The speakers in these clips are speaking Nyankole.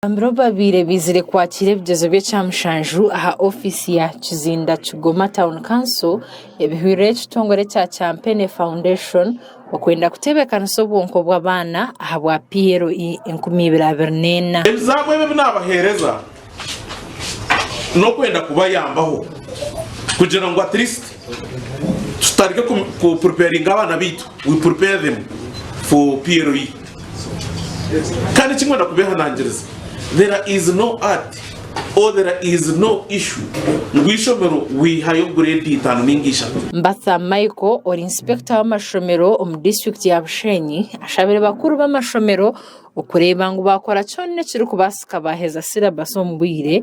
Bambi babaire baizire kwakiira ebigyezo by'ekyamushanju aha ofiisi ya Kizinda Kigoma Town Council ebihwirire ekitongore kya Champene Foundation okwenda kutebeekanisa obwonko bw'abaana ahabwa PLE enkumi ibiri abiri n'ena. Ebizabu ebi ebinaabaheereza n'okwenda kubayambaho kugira ngu at least tutandike ku preparinga abaana baitu, we prepare them for PLE. Kandi kimwe na kubehanangiriza, there is no art or there is no issue ngu eishomero wihayo grade itaano ninga ishatu. Mbatha Michael ori Inspector w'amashomero omu District ya Bushenyi ashabire bakuru b'amashomero okureeba ngu bakora kyona ekirikubaasika baaheza syllabus omu bwire,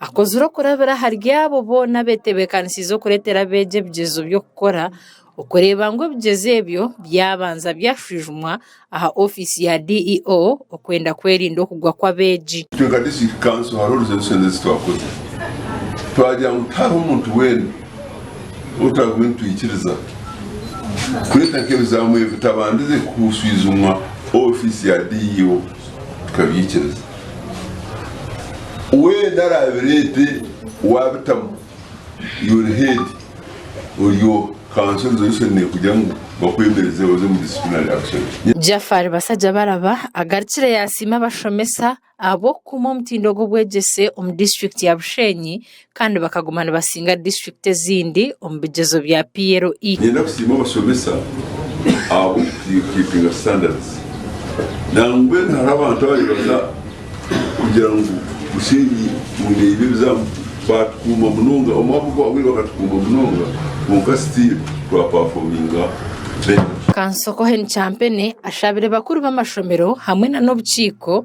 Akozire okurabira ahari abo boona abeetebeekanisiize okureetera abeegi ebigyezo by'okukora, okureeba ngu ebigyezo ebyo byabanza byashwijumwa aha ofiisi ya DEO okwenda kwerinda okugwa kw'abeegi. Itwe nka District Council hariho resolution ezi twakoze twagira ngu tihariho muntu weena ou turabaire nitwikiriza kureeta nk'ebizaamu ebi bitabandize kushwijumwa ofiisi ya DEO tukabyikiriza. Weena arabireete waabitamu your head oryo council resolution nekugira ngu bakwemereze oze omu disciplinary action. Jafar Basajjabaraba agarukire yasiima abashomesa ahabw'okukuuma omutindo gw'obwegyese omu district ya Bushenyi kandi bakaguma nibasinga disiturikiti ezindi omu bigyezo bya PLE. Ninyenda kusiima abashomesa ahabw'okukipinga standards nangwa mbwenu hariho abantu abaribaza kugira ngu bushenyi mundeeba ebizamu baatukuuma munonga omwaka ogwahweire bakatukuuma munonga kwonka still twapafominga better. Kansoko Hon Kyampene ashabire bakuru b'amashomero hamwe na n'obukiiko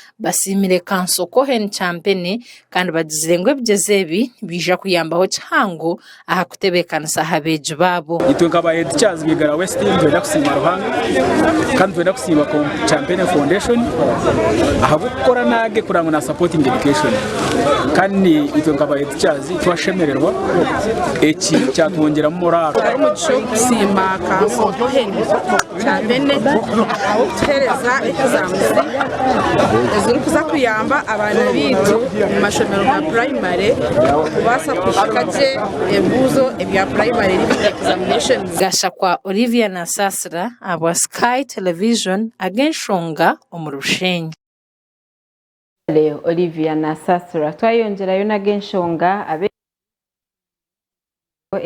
Basiimire Kanso Cohen Kyampene kandi bagizire ngu ebigyezo ebi nibiija kuyambaho kihango aha kutebeekanisa aha beegi baabo. Itwe nka ba Head Teachers ba Igara West nitwenda kusiima Ruhanga kandi nitwenda kusiima Kyampene Foundation ahabw'okukora naage kureba ngu na supportinga education kandi itwe nka ba Head Teachers twashemererwa eki kyatwongyeramu moraaro. Twine omugisha ogw'okusiima Kanso Cohen. Kya bene ahabw'okutuheereza ekizamuzi ezirikuza kuyamba abaana baitu omu mashomero ga purayimare kubaasa kuhika gye ebibuuzo ebya purayimare ebi bari examinations. Gashakwa Olivia Nasaasira ahabwa Sky Television ag'enshonga omuri Bushenyi. Kale Olivia Nasaasira twayongyerayo n'ag'enshonga ab'ensi yoona.